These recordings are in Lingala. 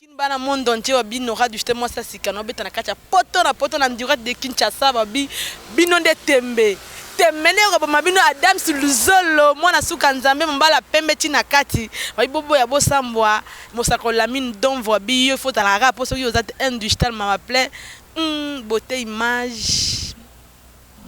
Kin ba na monde entier ba bi Nora Duchete mwasi ya sika na obeta na kati ya poto na poto na Ndurette de Kinshasa ba bi bino nde tembe tembe nde ekoboma bino Adams Luzolo mwana suka Nzambe mobala pembe ti na kati ba bi boboya bosambwa mosako Lamine Donvo a bi yo faut ozalaka kaka po soki oza te un digital mawa plein hum beaute image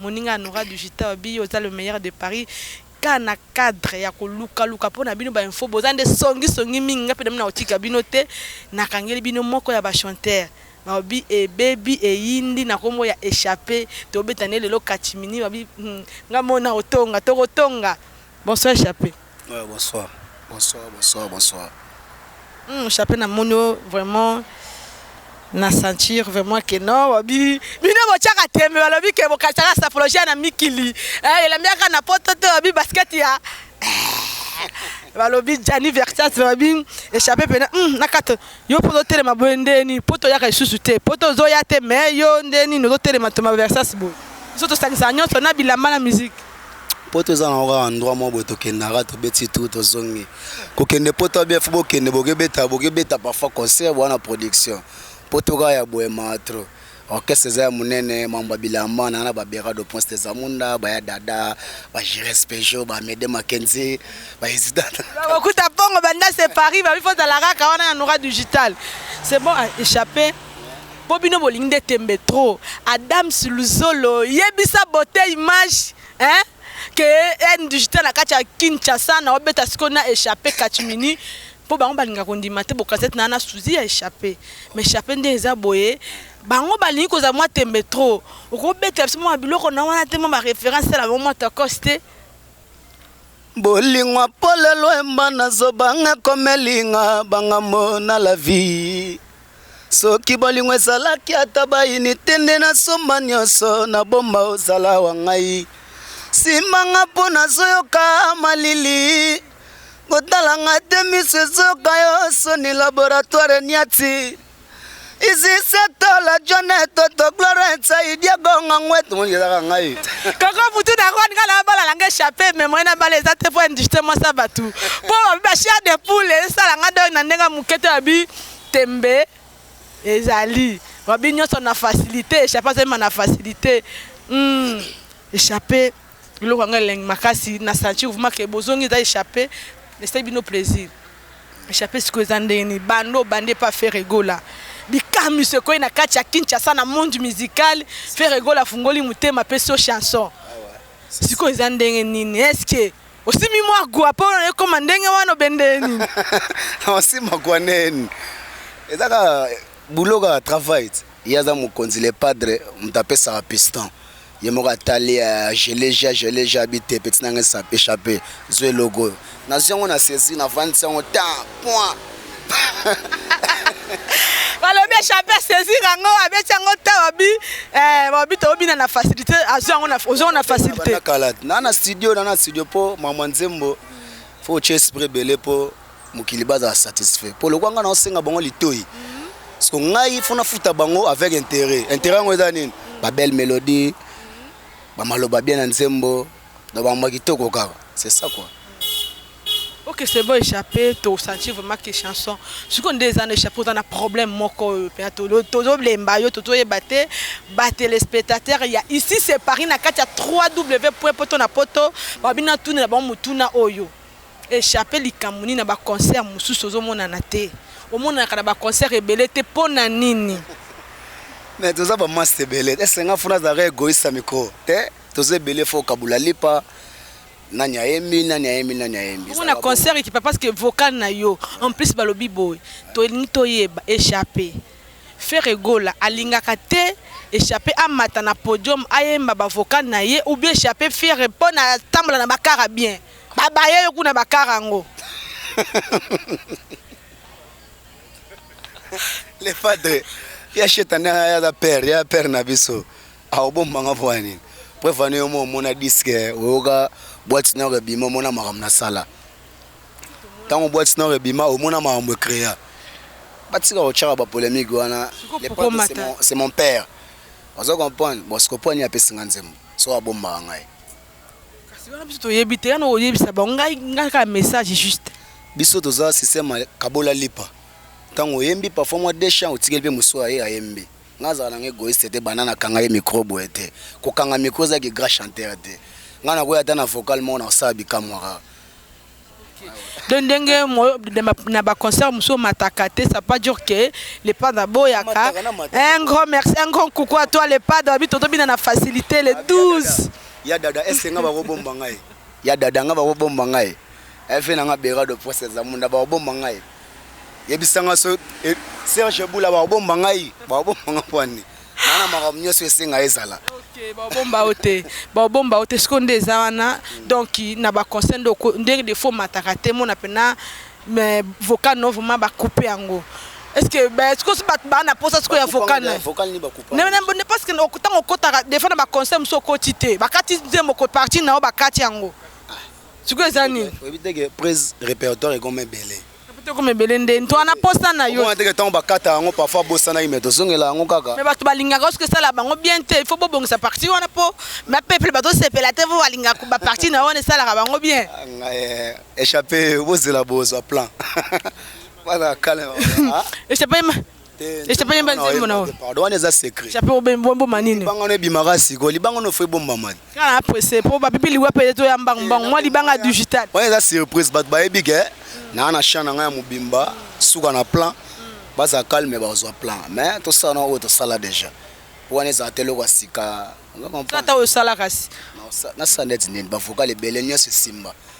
moninga ya Nora Duchete ba bi yo oza le meilleur de Paris Kaka na cadre ya ko luka luka po na bino ba infos boza nde songi songi mingi nga pe nabi nakotika bino te na kangeli bino moko ya ba chanteur nalobi ebebi eyindi na kombo ya echape tobeta nde lelo catimini babi hum nga mona otonga toko tonga bonsoir echape. Bonsoir. Bonsoir bonsoir bonsoir hum chape na moni yo vraiment na sentir vraiment que non wabi bino bochaka tembe balobi que bokataka sapologia na mikili eh elambiaka na poto te wabi basket ya balobi Gianni Versace balobi échappé pena hum na kata yo mpo ozotelema boye ndeni mpo toyaka lisusu te mpo tozoya te mais yo ndeni nozotelema toma Versace boye biso tosangisa nyonso na bilamba na musique Poto eza na oka endroit moko boye tokendaka tobeti tour tozongi kokende poto abia fo bokende bokebeta bokebeta parfois concert boa na production poto kaka ya boye maa trop orchestre eza ya monene mambo ya bilamba na na babera de prince de zamunda baya dada bagires pejo bamede makenzi baesidana bakuta mpongo banda se paris babi fozala kaka wana ya nora digital c'est bon échappe Po bino bolingi nde tembe trop. Adams luzolo yebisa beaute image hein que haine digital na kati ya Kinshasa nao beta sikoyo na echappe catimini po bango balinga kondima te bokazate na na souzi ya echappe mais echappe nde eza boye bango balingi kozala mwa tembe trop oko betela biso mwa biloko na wana te mwa ba reference sala bango mwa tokos te Bolingwa polelo emba na zobanga komelinga banga mona la vie Soki bolingo ezalaki ata bayini te nde nasomba nyonso na bomba ozala wa ngai simanga mpo nazoyoka malili kotalanga te miso ezoka yo soni laboratoire niati izisetola jone toto glorensa idiagonga ngwetu ezaka ngai koko mutu na rwanda nga na balala nga echappe me moyen na bala eza te mpo industrie mwasa bato mpo babi bashare de poule esala nga doi na ndenge moke te babi Tembe ezali wabi nionso na facilite echape azo yemba na facilite humm echape eloko yango elengi makasi na sentir vraiment que bozongi eza echape esali bino plaisir echape sikoyo eza ndenge nini banda obandi epa Ferre Gola bikamwisi ekweyi na kati ya Kinshasa na monde musical Ferre Gola afungoli motema apesi yo chanson sikoyo eza ndenge nini est ce que Osimi mwa gwa mpo na ekoma ndenge wana obende nini? Osima gwa neni? Eza kaka boulot kaka travail. Ye aza mokonzi le padre moto apesaka piston. Ye moko atali euh, je l'ai ja, je l'ai ja bi te petit nanga echappe. Zwa eloko oyo. Nazwi yango na saisie, navandisi yango temps, point. balobi echappe asaisir yango abeti yango ta babi eh, babi tobina na facilité azwi yango ozwi yango na facilité kala na na studio na na studio mpo mama nzembo fo otye esprit ebele mpo mokili bazala satisfait mpo lokwa ngai naosenga bango litoi parceke ngai fo nafuta bango avec intérêt intérêt yango eza nini babelle mélodie bamaloba bien na nzembo Donc ba mbuma kitoko kaka c'est ça quoi. Ok c'est bon echappe to sentir vraiment que chanson siko nde eza na echappe oza na problème moko oyo pena to tozo lemba yo to toyeba te ba téléspectateurs ya ici c'est Paris na kati ya 3W point poto na poto ba bina tuna na bango mutuna oyo echappe likambo nini na ba concert mosusu ozo monana te omonanaka na ba concert ebele te pona nini. Mais toza ba masse ebele est ce nga funa azalaka egoïste ya micro te. Toza ebele faut okabula lipa nani ayembi nani ayembi nani ayembi bongo na concert ekipa parce que vocal na yo en plus balobi boye tolingi toyeba échappe Ferre Gola alingaka te échappe amata na podium ayemba ba vocal na ye ou bien échappe Ferre mpo na tambola na bakara bien babaye yo kuna bakara yango le padre ya shetani ya père ya père na biso Ah obomba nga pona nini? Preuve wana yo mo omona disque oyoka boîte nord ebima omona makambo na sala ntango boîte nord ebima omona makambo ecrea batika kotyaka bapolémique wana c'est mon père ozo comprendre bon siko mpo nini apesi nga nzembo so abombaka ngai wana biso toyebi te yana oyebisa bango ngai ngai kaka message juste biso toza système kabola lipa ntango oyembi parfois mwa deux champs otikeli mpe mosusu aye ayembi Nga azalaka nanga egoiste te banda na kanga ye micro boye te ko kanga micro eza ki grand chanteur te nga na kuya ata na vocal moko na kosala bikamwa kaka de ndenge na ba concert mususu mataka te ça pas dire que le padre boyaka un grand merci un grand coucou à toi le padre abi toto bina na facilité le 12 ya dada est ce que nga bako bomba ngai ya dada nga bako bomba ngai Eh vieux na nga Berado Prince Zamunda ba obomba ngai. Yebisa nga so eh, Serge Bula ba obomba ngai, ba obomba nga pwani. Nana makambo nyonso esenga ezala. Okay, ba obomba ote, ba obomba ote siko nde eza wana. Hmm. Donc na ba concert ndoko ndenge de faux mataka te mona pena mais vocal non vraiment ba couper yango. Est-ce que ben siko si bato baa na posa siko ya vocal na vocal ni ba couper. Ne ne parce que ntango okotaka des fois na ba concert mosusu okoti te. Bakati nzembo ko partie na yo bakati yango. sikoyo eza nini oyebi te ke prise répertoire ekoma ebele ekoma ebele nde nto wana posa na yo teke ntango bakata yango parfois abosanaki me tozongela yango kaka me bato balingaka soki esala bango bien te il faut bobongisa parti wana mpo na peuple bazosepela te mpo balingaka baparti na wana esalaka bango bien ah, eh, échappe bozela bozwa plan wana kale ah. échappe echape yemba nzembo na oyo pardon wana eza secret echape obomboma nini libanga no ebimaka sikoyo libanga no fo ebombama te kaka na presse mpo bapipi liwa mpe to ya mbangu mbangu mwa libanga digital wana eza surprise bato bayebi ke naa na champ na ngai ya mobimba suka na plan baza calme bazwa plan mais tosala na oyo tosala déjà mpo wana ezala te eloko ya sika ata oyo osala kasi nasala neti nini bavocal ebele nyonso esimba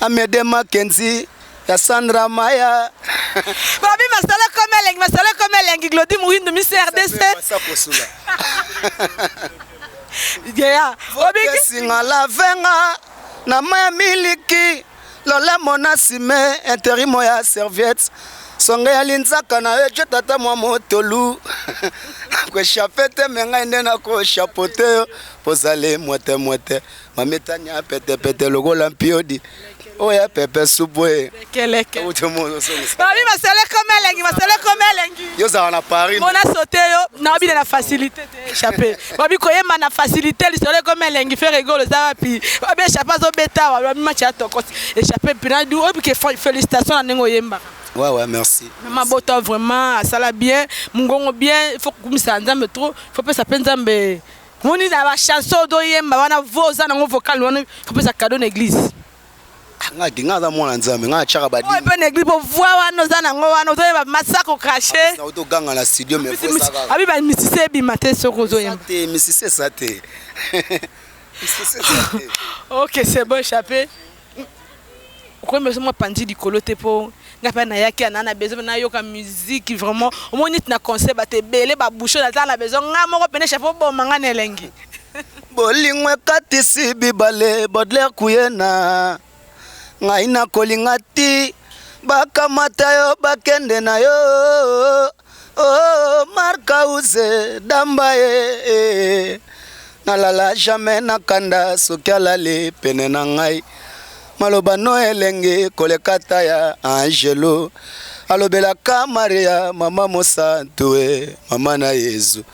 Amede Mackenzie ya Sandra Maya babi masala comme elengi masala comme elengi Glody Muhindo Miss RDC Gea obiki singa la venga na maya miliki lola mona sime interimo ya serviette songe ya linzaka na yo ejo tata mwa motolu koeshape te me ngai nde nakoeshapo te yo pozale mwete mwete mametani ya petepete lokola mpiodi oyo ya pepe supu e babi maseleko melengi maseleko melengi yo ozala na paris mona sote yo naobina na facilité te echappe babi koyemba na facilité lisolo ekomi elengi fere egolo eza wapi babi echappe azobeta wa babi match ya tokosi echappe mpina du obike félicitation na ndenge oyembaka Ouais, ouais, merci. Maman Bota, vraiment, ça l'a bien. Mungongo bien, il faut que ça nzambe trop. Il faut que ça pense nzambe. Moni na ba chanson do yemba wana vo oza nango vocal wana kopesa cadeau na église. Ah, nga te nga aza mwana nzambe nga achaka ba dini. Ope na église po voix wana oza nango wana ozo yeba masako cracher. Na oto ganga na studio mais voix ça va. Abi ba misise bima te soko ozo yemba. Te misise ça te. Ok, c'est bon échappé. okomi beso mwa panzi likolo te po nga mpe na yaki ana na besoin na yoka musique vraiment omoni neti na concert bato ebele ba bouchon naza na besoin nga moko pene chef oboma nga na elengi bolingo ekatisi bibale bodler kuyena ngai nakolinga ti bakamata yo bakende na yo Oh Marcause damba ye eh, nalala jamais na kanda soki alali pene na ngai maloba no elengi koleka ta ya angelo alobelaka maria mama mosantu e mama na yezu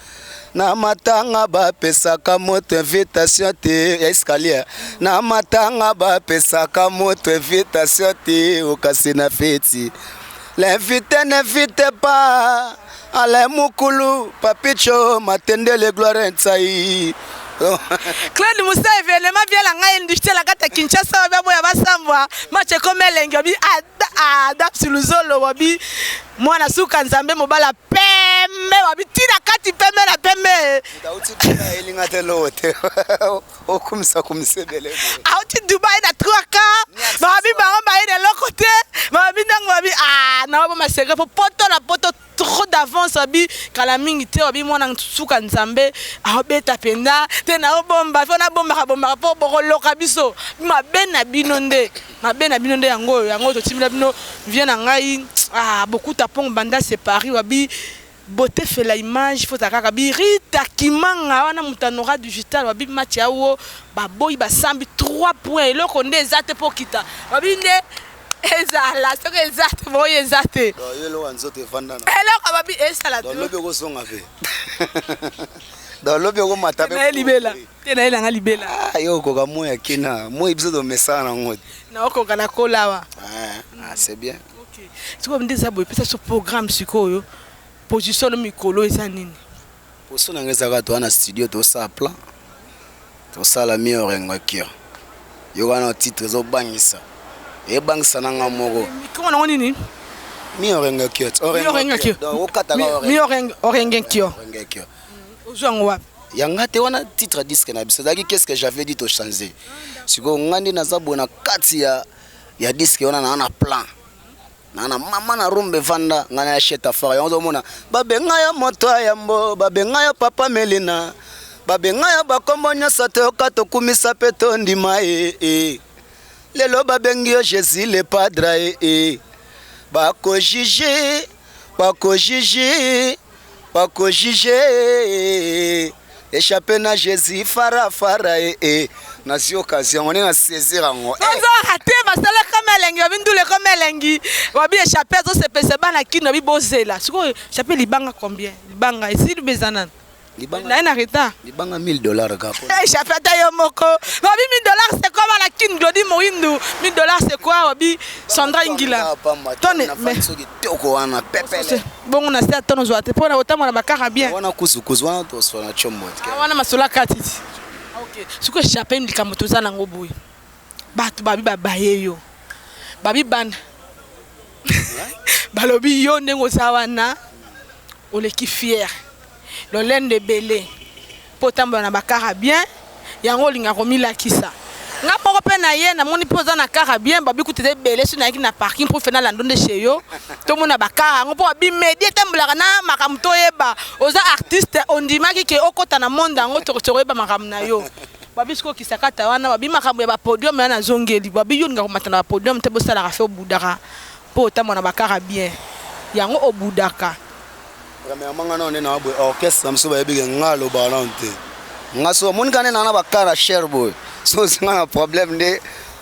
na matanga bapesaka moto invitation te ya escalier na matanga bapesaka moto invitation te okasi na feti l'invite n'invite pas alain mukulu papicho matendele gloire nsai claude musa evenema biala ngai industrie lakata kinshasa wabi aboya basambwa mache ekoma elengi wabi adapsi luzolo wabi mwana suka nzambe mobala pembe wapi tina kati pembe na pembe auti dubai elinga te lowo te okumisa kumisa ebele auti dubai na 3 ka babi bango baye na eloko te babi ntango babi ah, na babo masegre mpo poto na poto trop d'avance abi kala mingi te abi mwana suka nzambe aobeta mpenza te naobomba mpo nabombaka bombaka mpo bokoloka biso mabe na bino nde Mabe na bino nde yango oyo, yango totimela bino vie na ngai ah bokuta pong banda se Paris wabi beauté fait la image faut kaka bi Rita Kimanga wana mutanora digital wabi match ya wo baboyi basambi 3 points eloko nde eza te po kita wabi nde ezala soki eza te boyi eza te eloko babi esala te lobi okozonga pe lobi okomata pe libela te na ye na nga libela ah, yo okoka moi ya kina moi biso tomesana nango te naokoka na kolawa ah, ah, c'est bien okay. sikoyo nde eza boye pesa so programme sikoyo position no mikolo eza nini position na nga ezaka toa na studio tosala plan tosala mi orengo akira yo wana titre ezobangisa ebangisa na nga moko mikolo nango nini mi orengo akira orengo akira donc okataka orengo orengo akira ozwa yango wapi ya nga te wana titre ya disque na biso ezalaki qu'est-ce que j'avais dit to changer sikoyo nga nde naza boye na kati ya, ya disque wana naa na plan naa na mama na rumba evanda ngai na ya sheta fara yango ozomona babenga ya moto ya yambo babenga ya papa melina babenga ya bakombo nyonso toyoka tokumisa mpe tondima ye e, e. lelo babengi yo jésus le padre e, e. bakojije Bako jiji, bako jije Echappe na Jésus fara fara eh eh Nazi occasion on est na saisir yango eh. Ozo rate masala comme elengi babi ndule comme elengi babi echappe azo sepese bana kino babi bozela sikoyo echappe libanga combien libanga esili bezanan libanga naye na retard libanga 1000 dollars ka po échappe eh, ata yo moko babi 1000 dollars c'est quoi bala kin glodi moindu 1000 dollars c'est quoi babi Sandra Ingila tonne mais soki toko wana pepele bongo na sia tono zwate po na otamona bakara bien wana kuzu kuzu wana to sona chombo ah, wana masola katiti ah, OK siko échappe likambo toza nango boye Batu babi ba baye yo babi bana balobi yo ndenge oza wana oleki fière lolendo ebele po otambola na ba kara bien yango olinga komilakisa nga moko pe na ye na moni pe oza na kara bien babi kutu eza ebele soki nayaki na parking pour fena lando nde chez yo tomona ba kara yango po babi medi etambolaka na makambo toyeba oza artiste ondimaki ke okota na monde yango toko tokoyeba makambo na yo Babi siko kisakata wana babi makambo ya ba podium ya nazongeli babi yo linga komata na ba podium te bosalaka fe obudaka mpo otambola na bakara bien yango obudaka premièrement nga nao nde na boye orchestre na biso bayebi ke nga alobaka nano te nga so omonika nde naa na bakara cher boye so ozinga na problème nde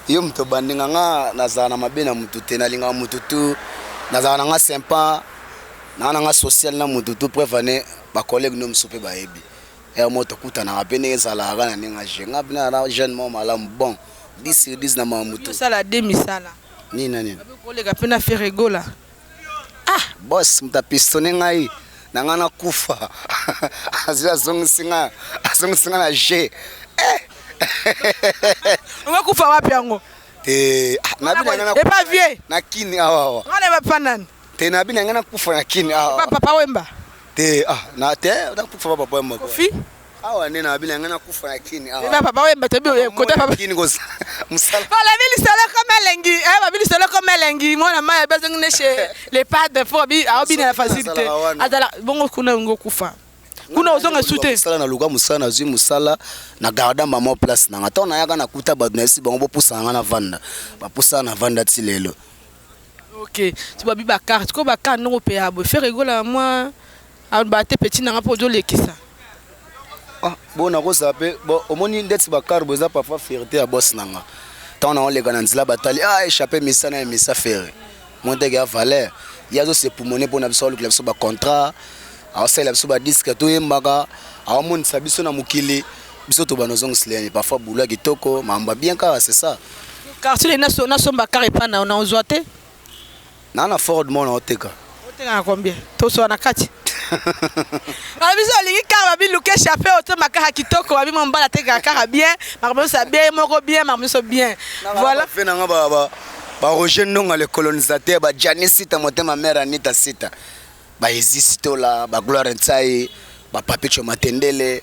yo moto obandinga nga nazala na mabe na motu te nalingaka motu tu nazala na nga sympa naa na nga social na motu tu preuve ane bacollègue no mosusu mpe bayebi Heure moko tokutanaka pe ndenge ezalaka kaka na ndenge ya jeu. Nga pena naza jeune moko malamu bon 10 sur 10 na makambu tout. Yo osala de misala. Nini na nini? Okoki koleka pe na Ferre Gola. Ah! Boss mutu a pistonner ngai na nga na kufa azui azongisi nga azongisi nga na jeu eh! Okoki kufa wapi yango? Te ah! Na bina na. Epa vieux. Na kin awa awa. Nga nayeba pa nani. Te na bina ngana kufa na kin. Ah. Papa papa wemba. Te ah na te na kufa papa papa wemba. Kofi. Awa nde na bina ngana kufa na kin. Ah. Papa papa wemba te bio kota papa. Kin gosa. Musala. Pala bili sala kama lengi. Eh ba bili sala kama lengi. Mwana maya bezo ngene chez les padres pour bi a bina la facilité. Azala bongo kuna ngo kufa. kuna ozonga su te mosala na luka mosala nazwi mosala na garda mama place nanga ntango nayaka nakuta bato nayebisi bango bopusa nanga na vanda bapusa na vanda ti lelo Ok so babi ba carte ko ba carte noko peya boye ferre gola mwa aloba te petit nanga mpo ozolekisa ah, bo nakozala mpe bo omoni ndeti ba carte bo eza parfois fierté ya boss nanga ntango nango leka na nzela batali ah échappe misa na emisa ferre monteke ya valeur ye azosepumone mpo na biso alukela biso bacontrat aosalela biso badiske toyembaka aomonisa biso na mokili biso tobana ozongisila ye parfois boulwa kitoko makambo bien kaka c'est ça Quartier de naso na somba car epa na na ozwa te. Na na Ford mona oteka. Oteka na combien? Toswa na kati. Ba biso olingi car ba bi luke chape otomba car kitoko ba bi mo mbala teka car bien makambo nyonso ya bien moko bien makambo nyonso bien. Voilà. Fe na nga ba ba ba Roger Ndonga le colonisateur ba Gianni Sita motema mère Anita Sita ba Ezisi Tola ba Gloire Nsayi ba Papicho Matendele.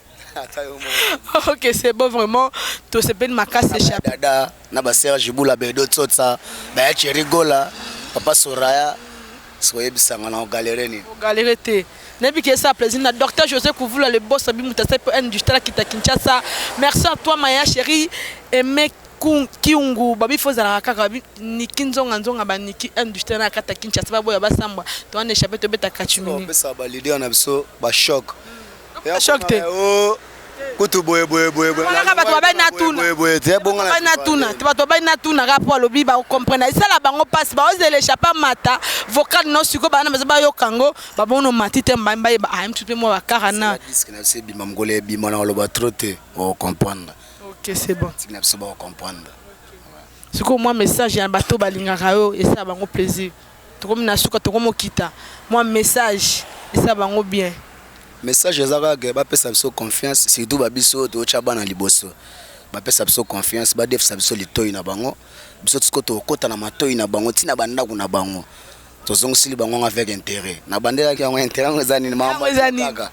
ok c'est bon vraiment tosepeli makasi chape dada na ba serge bula bedo tsotsa baya cheri gola papa soraya soyebisanga na ogalere nini ogalere te nayebi ke esa plaisir na docteur josé kuvula le boss abi moto asali mpo industrie akita kinshasa merci à toi maya chéri aime kiungu babi fo ezalaka kaka babi niki nzonga nzonga baniki industrie na kata kinshasa baboya basambwa towana echape tobeta kachimini opesa balider na biso bachoc Ya choc te. Oh, kutu boye boye boye boye. Wana kaka bato babali na tuna. Boye boye te bonga na. Babali na tuna. Te bato babali na tuna kaka po alobi ba comprendre. Esala bango pasi ba ozela echapper mata vocal no siko bana baza ba yoka ngo ba bono mati te mba mba ba am tupe mo ba kara na. Disque na se bima mgole bima na loba trop te o comprendre. OK c'est bon. Tika na biso ba comprendre. Siko moi message ya bato balingaka yo esala bango plaisir. Tokomi na suka tokomo kita mua message eza bango bien. Message eza kaka ke ba pesa biso confiance surtout ba biso oyo tozo tia bana liboso ba pesa biso confiance ba defisa biso litoyi na bango biso tout ce que toko kota na matoyi na bango ti na ba ndaku na bango to zongisili bango yango avec interet na bandelaki yango interet yango eza nini maman kaka.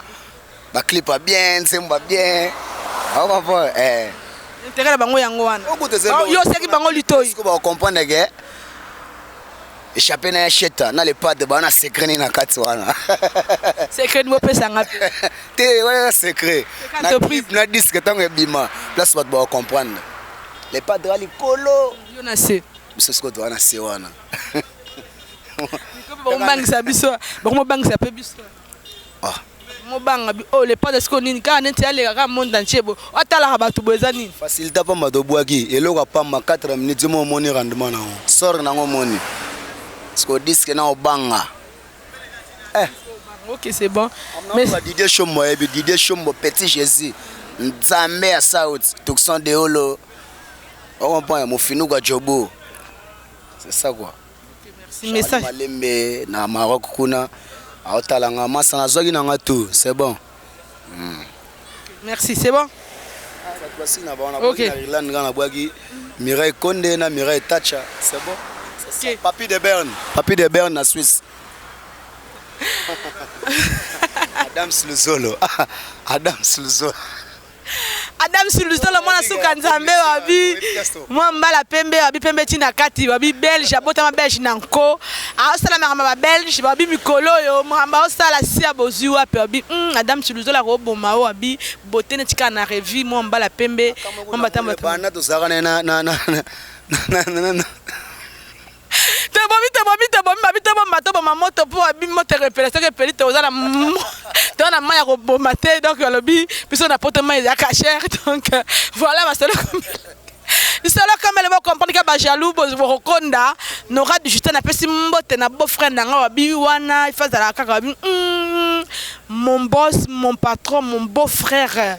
Ba clip ya bien, nzembo ya bien. Au comprendre eh. Intérêt na bango yango wana. Yo seki bango litoyi. Siko ba comprendre que échappé na ya sheta na le pas de bana secret ni na kati wana. Secret mo pesa nga pe. Te wana secret. Na clip na disque tango ebima. Place bato ba comprendre. Le pas de likolo. Yo na se. Biso siko to wana se wana. Bakobangisa biso. Bakomobangisa pe biso. ah. Mobanga bi oh le panda siko nini kaka neti aleka kaka monde entier bo atalaka bato bo eza nini facilité pamba tobwaki eloko ya pamba 4 minutes mo omoni rendement nango sor nango omoni siko diske na obanga eh. ok c'est bon mais Didier Shombo yebi Didier Shombo petit Jésus Nzambe ya South Tucson Deolo on comprend ya mofinuka Jobo c'est ça quoi Charly malembe na Maroc kuna aotala nga masa nazwaki na nga tout c'est bon hmm. merci c'est bon basili na bango nabwaki na irlande nga nabwaki mirai konde na mirai tacha c'est bon okay. papi de berne papi de berne na suisse adams luzolo adams luzolo Adam Suluzolo mwana suka nzambe wabi mwa mbala pembe wabi pembe ti na kati wabi belge abotama belge na nko aosala makambo ya babelge wabi mikolo oyo makambo aosala si ya bozwi wapi wabi mm, Adam Suluzolo akoboma o wabi bote neti kaka na revue mwa mbala pembe mwa mbatambata tozalaka na tobomi tobomi tobomi babi tobomba toboma moto mpo abi moto ekoepela soki epeli toza na toza na mai ya koboma te donc alobi biso na poto mai ya cachere donc voilà masolo lisolo kamele bocomprendre ka bajaloux bokokonda nora digital napesi mbote na beau frère na ngai wabi wana ifa azalaka kaka wabi mon boss mon patron mon beau frère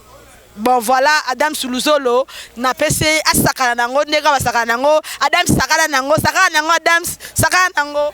Bon voilà Adams Luzolo na pesi ye asakana na yango ndenge basakana na yango Adams sakana na yango sakana na yango Adams sakana na yango